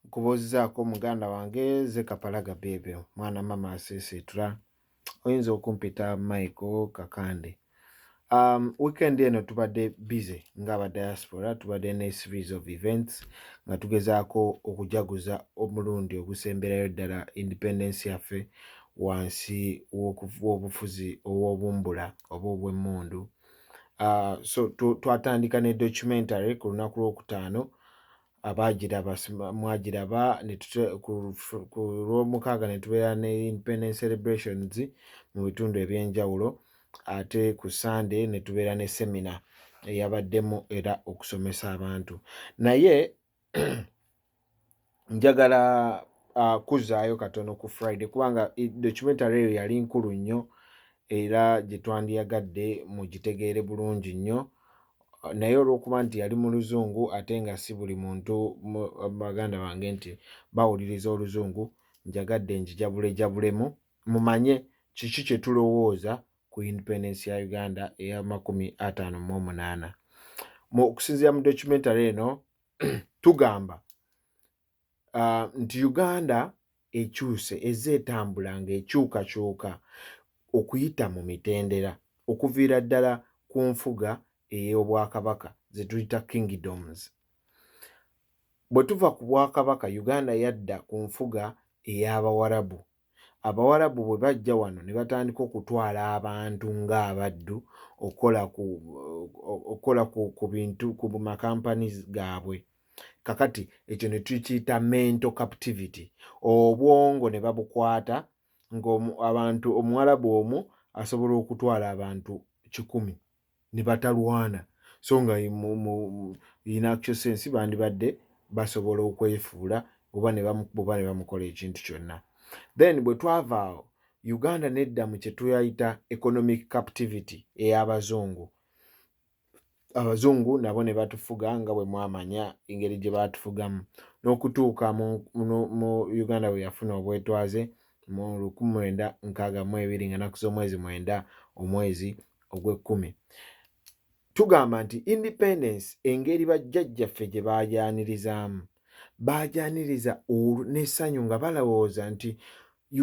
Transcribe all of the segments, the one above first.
nkubuuzizaako muganda wange ze kapalaga bebe mwana mama asiisiitula oyinza okumpita michael kakande Um, weekend eno tubadde busy ngaaba diaspora tubadde ne series of events nga tugezaako okujaguza omulundi ogusemberayo ddala independence yaffe wansi w'obufuzi ow'obumbula oba obw'emmundu uh, so twatandika ne documentary ku lunaku lwokutaano abaagiraba mwagiraba ku lwomukaaga ne tubeera ne independence celebrations mu bitundu eby'enjawulo ate ku sande ne tubeera ne semina eyabaddemu era okusomesa abantu naye njagala uh, kuzaayo katono ku friday kubanga documentary eyo yali nkulu nnyo era gye twandiyagadde mugitegeere bulungi nnyo naye olwokuba nti yali mu luzungu ate nga si buli muntu baganda bange nti bawuliriza oluzungu njagadde njijabulejabulemu mumanye kiki kye tulowooza ku independence ya uganda eyamakumi ataano mu omunaana mu okusinzira mu documentary eno tugamba uh, nti uganda ekyuse ezze etambula ng'ekyukakyuka okuyita mu mitendera okuviira ddala ku nfuga ey'obwakabaka ze tuyita kingdoms bwe tuva ku bwakabaka uganda yadda ku nfuga ey'abawarabu Abawarabu bwe bajja wano ne batandika okutwala abantu ng'abaddu okukola ku okukola ku, ku bintu ku makampani gaabwe kakati ekyo ne tukiyita mental captivity obwongo ne babukwata ng'abantu omuwarabu omu asobola okutwala abantu kikumi ne batalwana so nga in actual sense bandibadde basobola okwefuula oba ne bamukuba ne bamukola ekintu kyonna then bwe twava awo uganda nedda mu kye tuyayita economic captivity ey'abazungu abazungu nabo ne batufuga nga bwe mwamanya engeri gye baatufugamu n'okutuuka mu uganda bwe yafuna obwetwaze mu lukumi mwenda nkaaga mu ebiri nga naku z'omwezi mwenda omwezi ogw'ekkumi tugamba nti independence engeri bajjajjaffe gye baajaanirizaamu baajaaniriza n'essanyu nga balowooza nti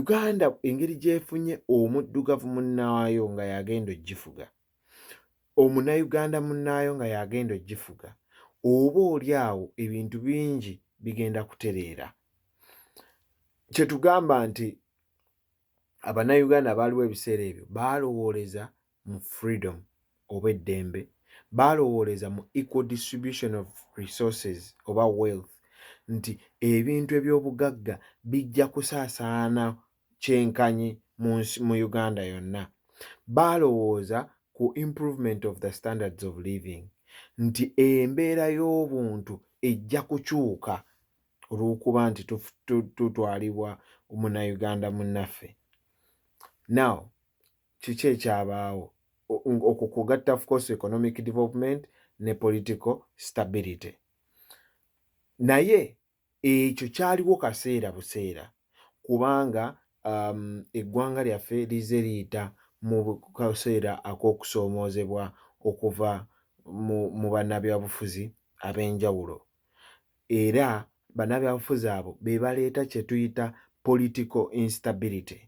uganda engeri gyefunye omuddugavu munnaayo nga yagenda ogifuga omunayuganda munnaayo nga y'agenda ogifuga oba oli awo ebintu bingi bigenda kutereera kye tugamba nti abanayuganda abaaliwo ebiseera ebyo baalowooleza mu freedom oba eddembe baalowooleza mu equal distribution of resources oba wealth nti ebintu eby'obugagga bijja kusaasaana kyenkanyi mu nsi mu Uganda yonna baalowooza ku improvement of the standards of living nti embeera y'obuntu ejja kukyuka olw'okuba nti tutwalibwa munauganda munnaffe now kiki ekyabaawo okwo kugatta of course economic development ne political stability naye ekyo kyaliwo kaseera buseera kubanga um, eggwanga lyaffe lize liyita mu kaseera ak'okusoomoozebwa okuva mu, mu bannabyabufuzi ab'enjawulo era bannabyabufuzi abo be baleeta kye tuyita political instability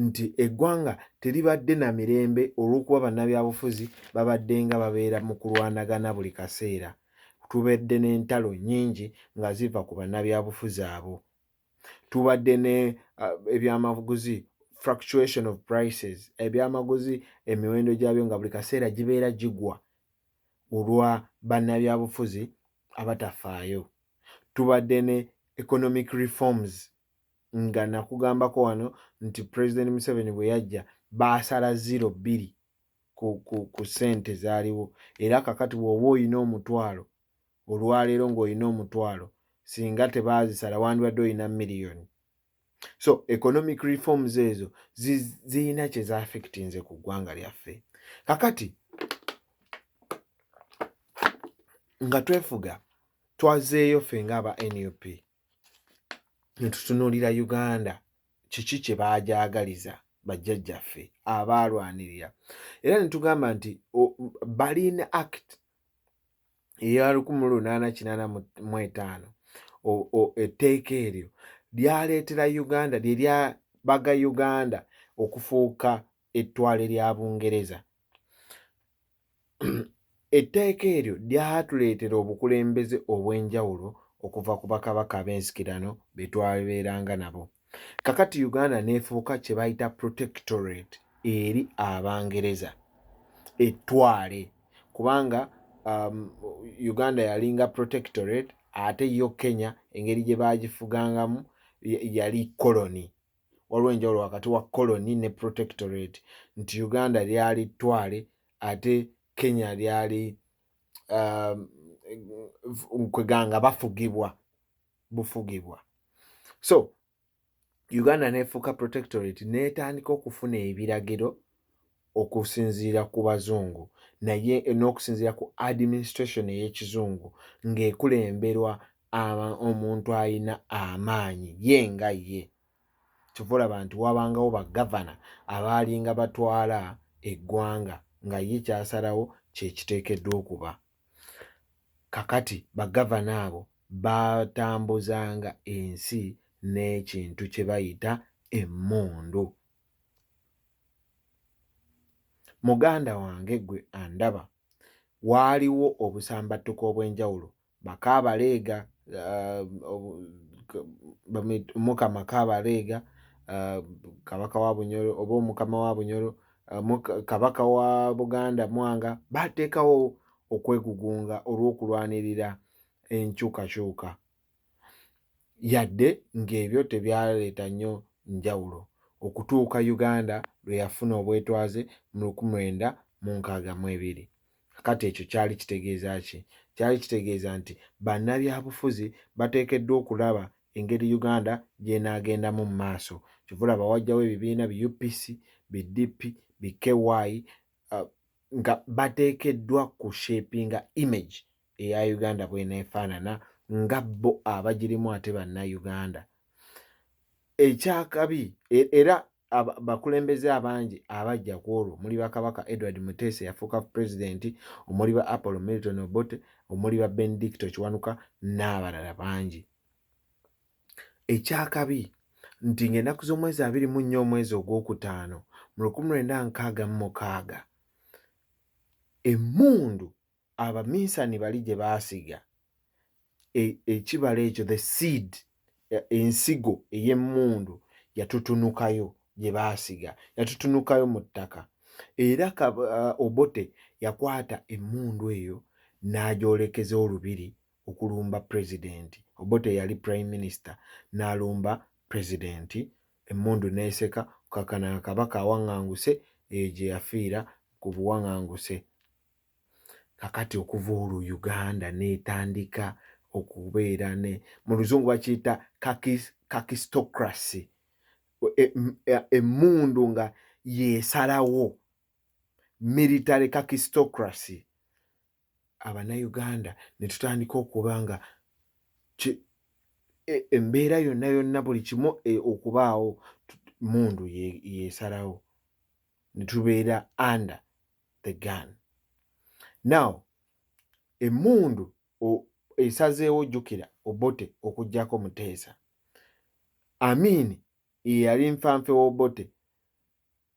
nti eggwanga teribadde na mirembe olw'okuba bannabyabufuzi babaddenga babeera mu kulwanagana buli kaseera tubadde n'entalo nnyingi nga ziva ku bannabyabufuzi abo tubadde ne uh, ebyamaguzi fluctuation of prices ebyamaguzi emiwendo gyabyo nga buli kaseera gibeera gigwa olwa bannabyabufuzi abatafaayo tubadde ne economic reforms nga nakugambako wano nti president museveni bwe yajja baasala ziro bbiri ku, ku, ku sente zaaliwo era kakati bw'oba olina omutwalo olwaleero ng'olina omutwalo singa tebaazisala wandibadde olina miliyoni so economic reforms ezo zirina kye zaafekitinze ku ggwanga lyaffe kakati nga twefuga twazeeyo ffe ngaaba nup netutunuulira uganda kiki kye baagyagaliza bajjajjaffe abaalwanirira era ne tugamba nti balin act eya 1885 etteeka eryo lyaleetera uganda lye lyabaga uganda okufuuka ettwale lya Bungereza. Etteeka eryo lyatuleetera obukulembeze obw'enjawulo okuva ku bakabaka ab'ensikirano be twabeeranga nabo. Kakati Uganda n'efuuka kye bayita protectorate eri Abangereza, ettwale, kubanga um, Uganda yalinga protectorate ate yo Kenya engeri gye baagifugangamu yali koloni. waliwo enjawulo wakati wa colony ne protectorate nti uganda lyali twale ate kenya lyali um, kweganga bafugibwa bufugibwa so uganda nefuuka protectorate netandika okufuna ebiragiro okusinziira ku bazungu naye n'okusinziira ku administration ey'ekizungu ng'ekulemberwa omuntu alina amaanyi ye nga ye kyova olaba nti wabangawo bagavana abaalinga batwala eggwanga nga ye kyasalawo kyekiteekeddwa okuba kakati bagavana abo batambuzanga ensi n'ekintu kye bayita emmundu Muganda wange gwe andaba waaliwo obusambattuko obw'enjawulo bakaabaleega omukama uh, kaabaleega uh, kabaka wa bunyolo oba omukama wa bunyolo uh, kabaka wa buganda mwanga bateekawo okwegugunga olw'okulwanirira enkyukakyuka yadde ng'ebyo tebyaleeta nnyo njawulo okutuuka Uganda lwe yafuna obwetwaze mu luku mwenda mu nkaaga mu ebiri. Kati ekyo kyali kitegeeza ki? Kyali kitegeeza nti bannabyabufuzi bateekeddwa okulaba engeri Uganda gy'enaagendamu mu maaso. Kyova olaba wajjawo ebibiina bi UPC, bi DP, bi KY uh, nga bateekeddwa ku shapinga image eya uganda bwenefaanana nga bo abagirimu ate banna uganda ekyakabi e, era bakulembeze abangi abajja ku olwo omuli bakabaka edward mutesa eyafuuka pulezidenti omuli ba apollo milton obote omuli ba benedicto kiwanuka n'abalala bangi ekyakabi nti ng'enaku z'omwezi abiri mu nnya omwezi ogw'okutaano mu lukumi lwenda nkaaga mu mukaaga emmundu abaminsani bali gye baasiga e, ekibala ekyo the seed e, ensigo ey'emmundu yatutunukayo gye baasiga yatutunukayo mu ttaka era uh, obote yakwata emmundu eyo n'agyolekeza olubiri okulumba pulezidenti obote yali prime minister n'alumba pulezidenti emmundu n'eseka kakana kabaka awaŋŋanguse eyo gye yafiira ku buwaŋŋanguse kakati okuva olwo uganda netandika okubeera ne mu luzungu bakiyita kakistocracy emmundu e, e nga yesalawo military kakistocracy abanauganda netutandika okuba nga e, embeera yonna yonna buli kimu okubaawo mundu yesalawo netubeera under the gun now emundu esazeewo jukira obote okujjako muteesa amiini eyali nfanfe wobote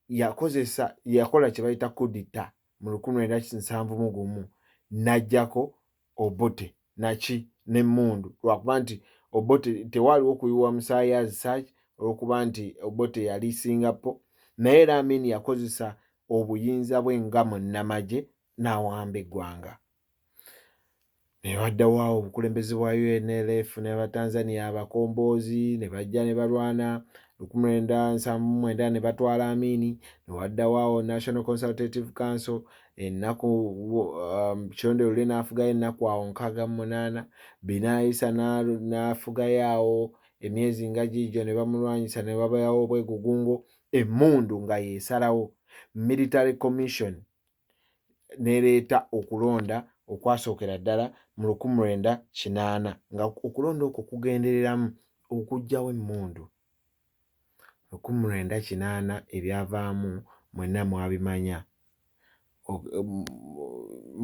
yakozesa yakola kyebayita kudita mu lukumi lwenda nsanvu mu gumu najjako Obote naki n'emmundu lwakuba nti Obote tewaaliwo kuyiwa musaayi as such olwokuba nti Obote yali Singapore naye era Amin yakozesa obuyinza bwe nga munnamagye n'awamba eggwanga ne waddawo awo obukulembeze bwa UNLF ne Batanzania abakomboozi ne bajja ne balwana lukumi lwenda nsanvu mwenda ne batwala Amini ne waddawo awo National Consultative Council ennaku um, kironde lule n'afugayo ennaku awo nkaaga mu munaana binaayisa n'afugayo awo emyezi nga giigyo ne bamulwanyisa ne babayawo obwegugungo emmundu nga yeesalawo military commission nereeta okulonda okwasookera ddala mu lukumu lwenda kinaana nga okulonda okwo kugendereramu okugjawo emmundu Lukumi lwenda kinaana ebyavaamu mwenna mwabimanya.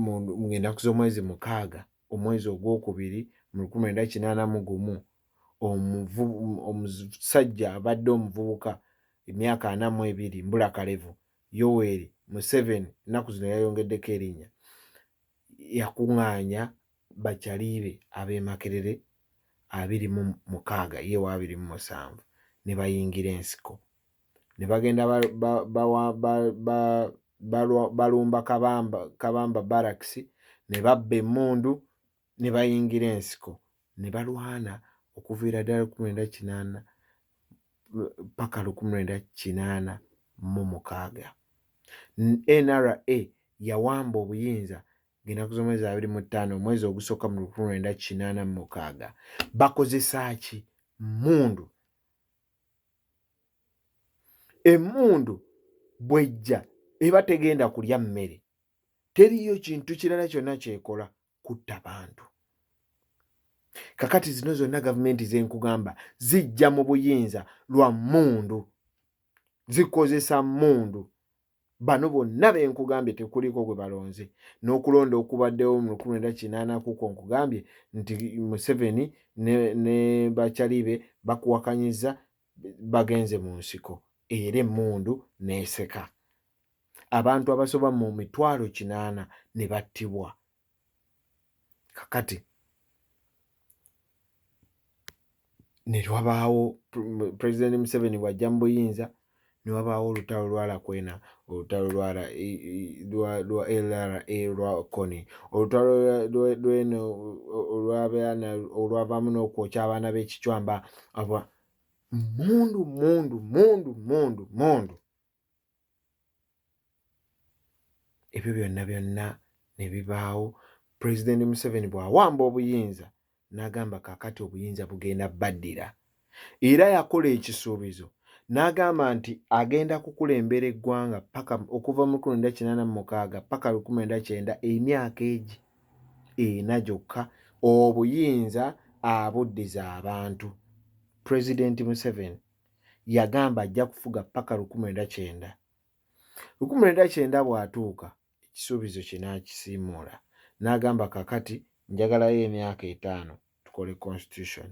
Mu ng'ennaku z'omwezi mukaaga omwezi ogwokubiri mu lukumi lwenda kinaana mu gumu omuvu omusajja abadde omuvubuka emyaka ana mu ebiri mbula kalevu Yoweri Museveni ennaku zino yayongeddeko erinnya yakung'aanya Bachali be ab'e Makerere abiri mu mukaaga ye wa abiri mu musanvu ne bayingira ensiko ne bagenda balumba Kabamba Barracks ne babba emmundu ne bayingira ensiko ne balwana okuviira ddala lukumi lwenda kinaana paka lukumi lwenda kinaana mu mukaaga nra yawamba obuyinza ngenaku z'omwezi abiri mu ttaano omwezi ogusooka mu lukumi lwenda kinaana mu mukaaga bakozesa ki mmundu emmundu bwejja eba tegenda kulya mmere teriyo kintu kirala kyonna kyekola kutta bantu kakati zino zonna gavumenti zenkugamba zijja mu buyinza lwa mundu zikozesa mundu bano bonna benkugambye tekuliko gwe balonze n'okulonda okubaddewo mu lukumi lwenda kinaana kuko nkugambye nti museveni ne, ne bakyalibe bakuwakanyiza bagenze mu nsiko era emmundu n'eseka abantu abasoba mu mitwalo kinaana ne battibwa kakati ne wabaawo pulezidenti museveni bw'ajja mu buyinza ne wabaawo olutalo lwa Lakwena, olutalo lwa ra- i- i- lwa- lwa LRA lwa Kony, olutalo lwa- lwa- lw'eno olw'abaana olwavaamu n'okwokya abaana b'ekicwamba aba mundu mundu mundu mundu mundu ebyo byonna byonna ne bibaawo pulezidenti museveni bw'awamba obuyinza n'agamba kaakati obuyinza bugenda baddira era yakola ekisuubizo n'agamba nti agenda kukulembera eggwanga paka okuva mu lukumi nda kinaana mu mukaaga paka lukumi nda kyenda emyaka egi ena gyokka obuyinza abuddiza abantu pulezidenti museveni yagamba ajja kufuga paka lukumi nda kyenda lukumi nda kyenda bw'atuuka ekisuubizo kye n'akisiimuula n'agamba kakati njagalayo emyaka etaano tukole constitution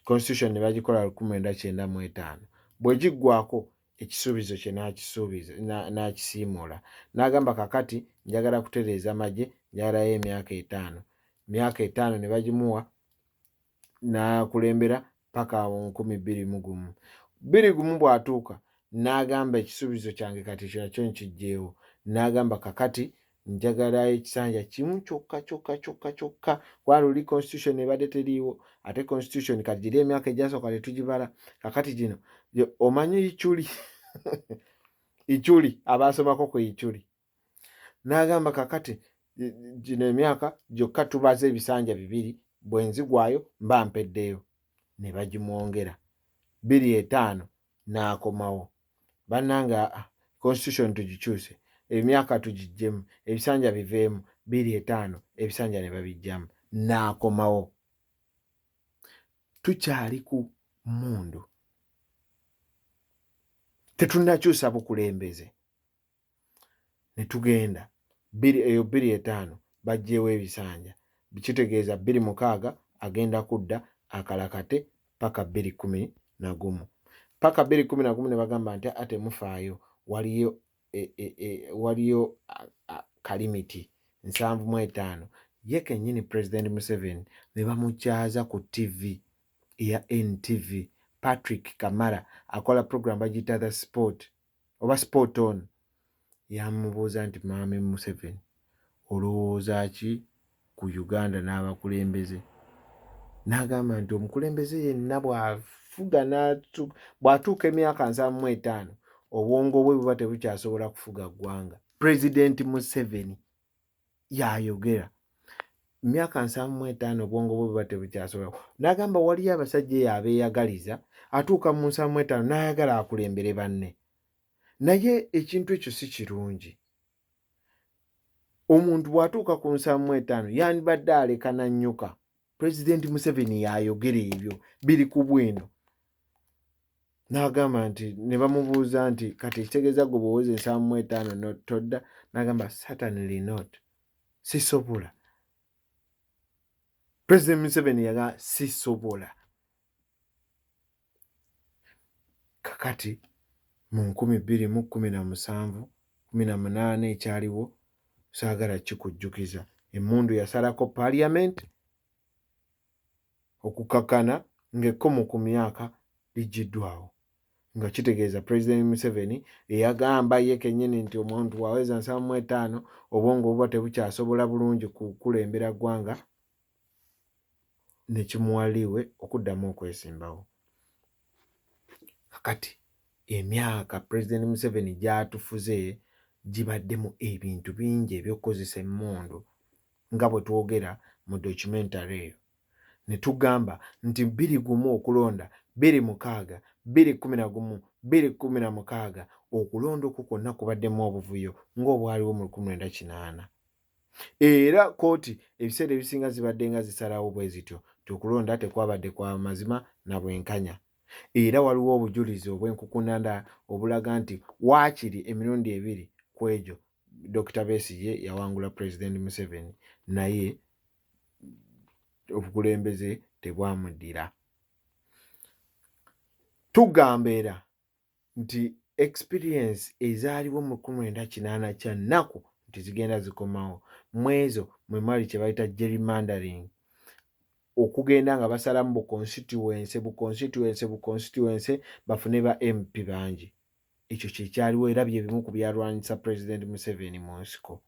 constitution ne bagikola lukumi lwenda kyenda mu etaano bwe giggwako ekisuubizo kye n'akisuubiza n'akisiimuula n'agamba kakati njagala kutereeza magye njagalayo emyaka etaano myaka etaano ne bagimuwa n'akulembera paka awo nkumi bbiri mu gumu bbiri gumu bw'atuuka n'agamba ekisuubizo kyange kati ekirala kyo nkijjeewo n'agamba kakati njagala ekisanja kimu kyokka kyokka kyokka kyokka kubanga luli constitution ebadde teriiwo ate constitution kati giri emyaka egyasooka tetugibala kakati gino omanyi ichuli ichuli abaasomako ku ichuli n'agamba kakati gino emyaka gyokka tubaza ebisanja bibiri bwe nzigwayo mba mpeddeyo ne bagimwongera biri etaano n'akomawo bannanga constitution tugikyuse emyaka tugiggyemu ebisanja biveemu biri etaano ebisanja ne babiggyamu n'akomawo tukyali ku mmundu tetunnakyusa bukulembeze ne tugenda bbiri eyo bbiri etaano baggyeewo ebisanja kitegeeza bbiri mukaaga agenda kudda akalakate ppaka bbiri kkumi na gumu ppaka bbiri kkumi na gumu ne bagamba nti a temufaayo waliyo e, e, e, waliyo kalimiti nsanvu mu etaano ye kennyini pulezidenti museveni ne bamukyaza ku tivi eya ntv patrick kamara akola puroguramu bagiyita the sport oba sport on yamubuuza nti maame museveni olowooza ki ku uganda n'abakulembeze n'agamba nti omukulembeze yenna bw'afuga bw'atuuka emyaka nsanvu mu etaano obwongo bwe buba tebukyasobola kufuga ggwanga pulezidenti museveni yayogera myaka nsanvu mu etaano obwongo bwe buba tebukyasobola n'agamba waliyo abasajja eyo abeeyagaliza atuuka mu nsanvu mu etaano n'ayagala akulembere banne naye ekintu ekyo si kirungi omuntu bw'atuuka ku nsanvu mu etaano yandibadde aleka nannyuka president museveni yayogera ebyo biri ku bwino nagamba nti ne bamubuuza nti kati ekitegeeza gwe bwowoza ensaamu mu etaano todda nagamba certainly not sisobola president museveni yaga sisobola kakati mu nkumi bbiri mu kkumi na musanvu kumi na munaana ekyaliwo saagala kikujjukiza emmundu yasalako parliament okukakana ng'ekkomo ku myaka ligiddwawo nga kitegeeza president museveni eyagamba ye kenyini nti omuntu waweza nsamu etaano obwongo obuba tebukyasobola bulungi kukulembera ggwanga ne kimuwa liiwe okuddamu okwesimbawo. Kakati emyaka Pulezidenti Museveni gy'atufuze gibaddemu ebintu bingi eby'okukozesa emmundu nga bwe twogera mu documentary eyo ne tugamba nti bbiri gumu okulonda bbiri mukaaga bbiri kkumi na gumu bbiri kkumi na mukaaga okulonda okwo kwonna kubaddemu obuvuyo ng'obwaliwo mu lukumi lwenda kinaana. era kooti ebiseera ebisinga zibadde nga zisalawo bwe zityo nti okulonda tekwabadde kwa mazima na bwenkanya era waliwo obujulizi obw'enkukunanda obulaga nti waakiri emirundi ebiri ku egyo dokita besigye yawangula pulezidenti museveni naye obukulembeze tebwamuddira tugamba era nti experience ezaaliwo mu kumi lwenda kinaana kya nnaku nti zigenda zikomawo mwezo mwe mwali kye bayita gerrymandering okugenda nga basalamu bu constituency bu constituency bu constituency bafune ba mp bangi ekyo kyekyaliwo era bye bimu ku byalwanyisa president museveni mu nsiko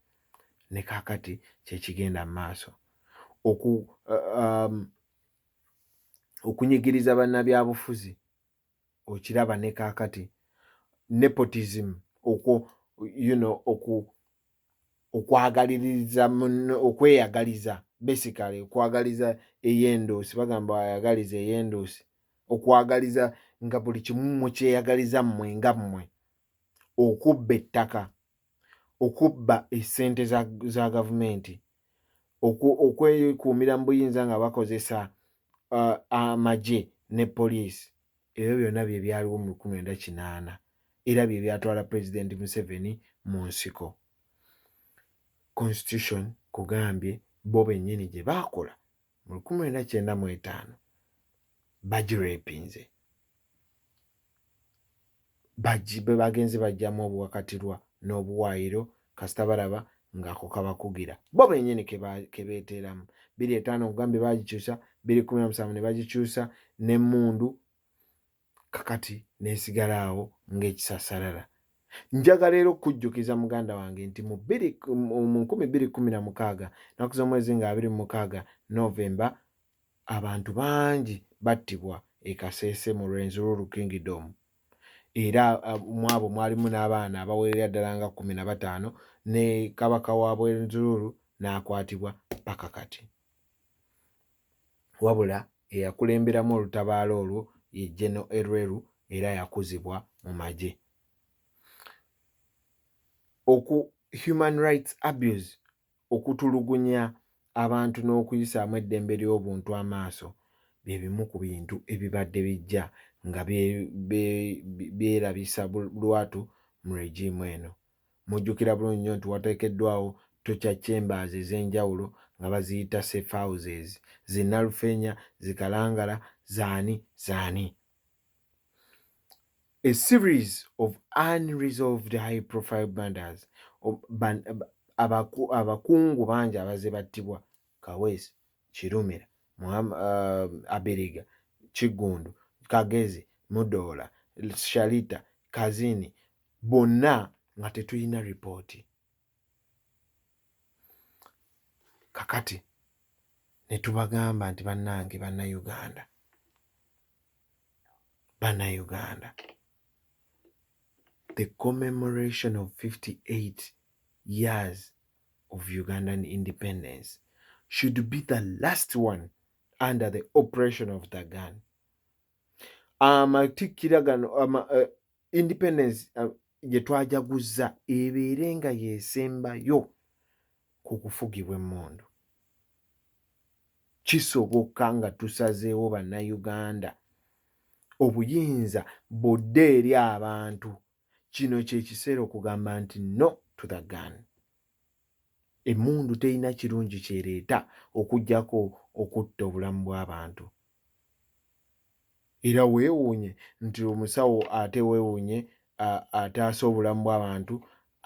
ne kakati kyekigenda mu maaso oku uh, um, okunyigiriza bannabyabufuzi okiraba ne kaakati nepotism okwo you know oku okwagaliriza munno okweyagaliza basically okwagaliza ey'endoosi bagamba ayagaliza ey'endoosi okwagaliza nga buli kimu mukyeyagaliza mmwe nga mmwe okubba ettaka okubba esente za, za gavumenti okwekuumira mu buyinza nga bakozesa uh, amagye ne poliisi ebyo byonna bye byaliwo mu lukumi enda kinaana era bye byatwala pulezidenti museveni mu nsiko constitution kugambye bo bennyini gye baakola mu lukumi lwenda kyenda mu etaano bagirepinze bwe bagenze bajjamu obuwakatirwa n'obuwaayiro kasita balaba ng'ako kabakugira bo bennyini ke beeteeramu biri etaano okugambye baagikyusa biri kumi na musanvu ne bagikyusa n'emmundu kakati nesigala awo ng'ekisasarara njagala era okujjukiza muganda wange nti mu nkumi bbiri kumi na mukaaga naku z'omwezi nga abiri mu mukaaga novemba abantu bangi battibwa ekaseese mu rwenzururu kingdom era mwabo mwalimu n'abaana abawerera ddala nga kumi na bataano ne kabaka wa bwenzururu n'akwatibwa paka kati Wabula eyakulemberamu olutabaalo olwo ye Gen. Elwelu era yakuzibwa mu magye. Oku, Human Rights Abuse, Okutulugunya abantu n'okuyisaamu eddembe ly'obuntu amaaso bye bimu ku bintu ebibadde bijja nga byerabisa lwatu mu regimu eno. Mujjukira bulungi nnyo nti wateekeddwawo torture chambers ez'enjawulo nga baziyita safe houses, zi Nalufeenya, zi Kalangala, zaani zaani. A series of unresolved high profile murders, abakungu bangi abazze battibwa Kaweesi, Kirumira, Abiriga, Kiggundu, Kagezi, Mudoola, Sharita, Kazini bonna nga tetulina ripooti kakati ne tubagamba nti bannange bannayuganda bannayuganda the commemoration of 58 years of Ugandan independence should be the last one under the operation of the gun amatikkira gano ama, uh, independence uh, gye twajaguzza ebeere nga yesembayo ku kufugibwa emmundu kisoboka nga tusazeewo bannayuganda obuyinza budde eri abantu kino kyekiseera okugamba nti no to the gun emundu terina kirungi kyereeta okugyako okutta obulamu bw'abantu era weewuunye nti omusawo ate weewuunye ataasa obulamu bw'abantu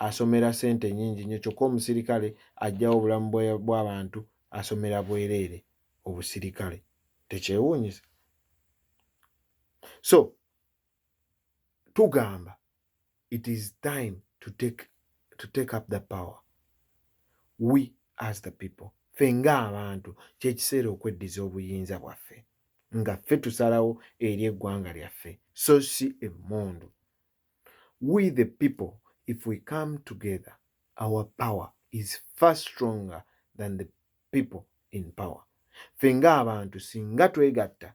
asomera sente nyingi nyo kyokka omusirikale ajjawo obulamu bw'abantu asomera bwereere obusirikale tekyewuunyisa so tugamba it is time to take, to take up the power we as the people ffe ng'abantu kyekiseera okweddiza obuyinza bwaffe nga ffe tusalawo eri eggwanga lyaffe so si emmundu we the people if we come together our power is far stronger than the people in power ffe ng'abantu singa twegatta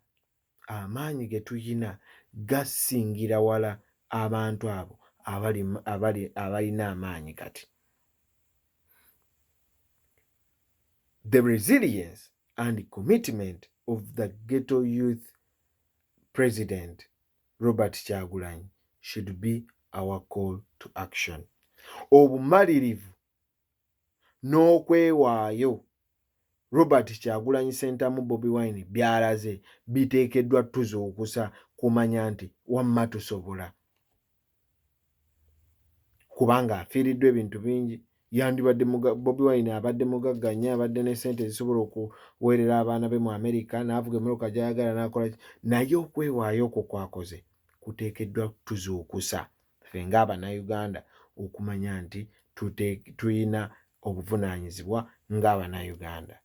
amaanyi ge tulina gasingira wala abantu abo abali abali abalina amaanyi kati the resilience and commitment of the ghetto youth president robert kyagulanyi should be our call to action obumalirivu n'okwewaayo Robert Kyagulanyi Ssentamu Bobi Wine by'alaze biteekeddwa tuzuukusa kumanya nti wamma tusobola kubanga afiiriddwa ebintu bingi yandibadde Bobi Wine abadde mugagga nnyo abadde ne ssente ezisobola okuweerera abaana be mu Amerika n'avuga emmotoka gy'ayagala n'akola naye okwewaayo okwo kwakoze kuteekeddwa tuzuukusa ffe ng'abanauganda okumanya nti tulina obuvunaanyizibwa ng'abanauganda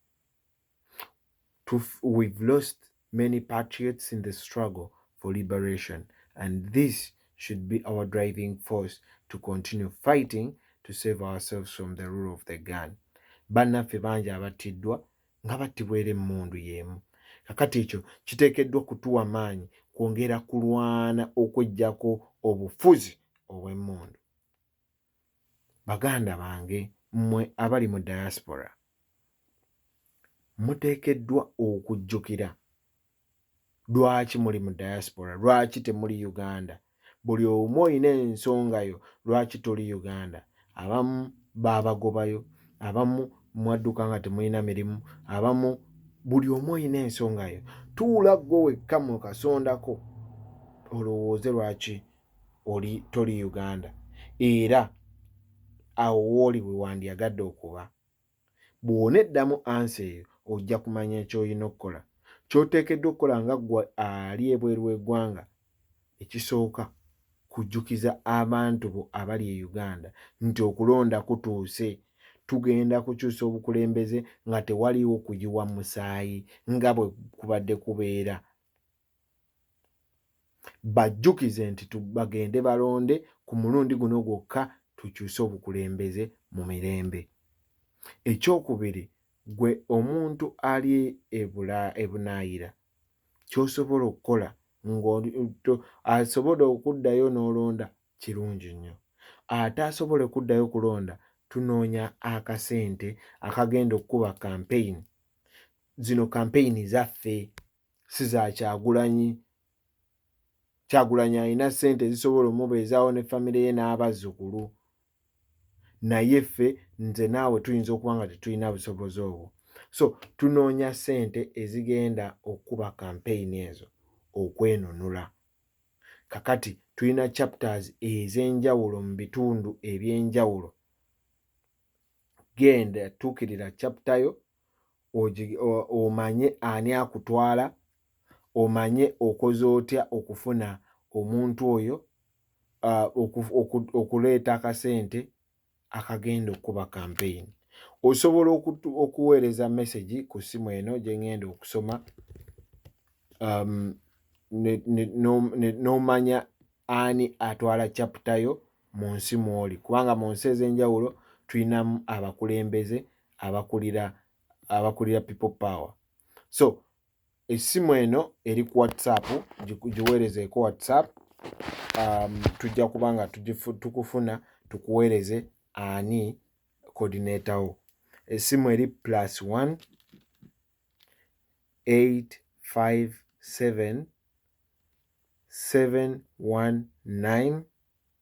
we've lost many patriots in the struggle for liberation and this should be our driving force to continue fighting to save ourselves from the rule of the gun bannaffe bangi abattiddwa nga battibwa era emmundu y'emu. Kakati ekyo kiteekeddwa kutuwa maanyi kwongera kulwana okweggyako obufuzi obw'emmundu. Baganda bange mmwe abali mu diaspora muteekeddwa okujjukira lwaki muli mu diaspora lwaki temuli uganda buli omu olina ensonga yo lwaki toli uganda abamu babagobayo abamu mwadduka nga temulina mirimu abamu buli omu olina ensonga yo tuula gwe wekka mu kasondako olowooze lwaki oli toli uganda era awo wooli bwe wandyagadde okuba Bw'oneddamu ansa eyo, ojja kumanya ky'olina okukola. Ky'oteekeddwa okukola nga ggwe ali ebweru w'eggwanga, ekisooka kujjukiza abantu bo abali e Uganda nti okulonda kutuuse. Tugenda kukyusa obukulembeze nga tewaliiwo kuyiwa musaayi nga bwe kubadde kubeera. bajjukize nti bagende balonde ku mulundi guno gwokka tukyuse obukulembeze mu mirembe. Ekyokubiri gwe omuntu ali ebula ebunaayira ky'osobola okukola ng'asobola okuddayo n'olonda kirungi nnyo ate asobole okuddayo okulonda tunoonya akasente akagenda okukuba kampeyini zino kampeyini zaffe. si za kyagulanyi kyagulanyi alina sente ezisobola omubeezaawo ne famire ye n'abazzukulu naye ffe nze naawe tuyinza okuba nga tetulina busobozi obwo so tunoonya sente ezigenda okukuba kampeyini ezo okwenunula kakati tulina chapters ez'enjawulo mu bitundu eby'enjawulo genda tuukirira chaptayo omanye ani akutwala omanye okoze otya okufuna omuntu oyo okuleeta akasente akagenda okukuba kampeyini osobola okuweereza mesegi ku ssimu eno gyengenda okusoma um, n'omanya ani atwala caputayo mu nsi mwoli kubanga mu nsi ez'enjawulo tulinamu abakulembeze abakulira abakulira people power so essimu eno eri ku whatsapp giweerezeeko whatsapp um, tujja kuba nga tukufuna tukuweereze ani coordinator wo essimu eri plus 1 857 719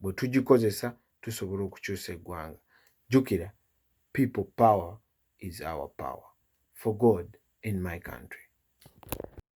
bwe tugikozesa tusobola okukyusa eggwanga jjukira people power is our power for god in my country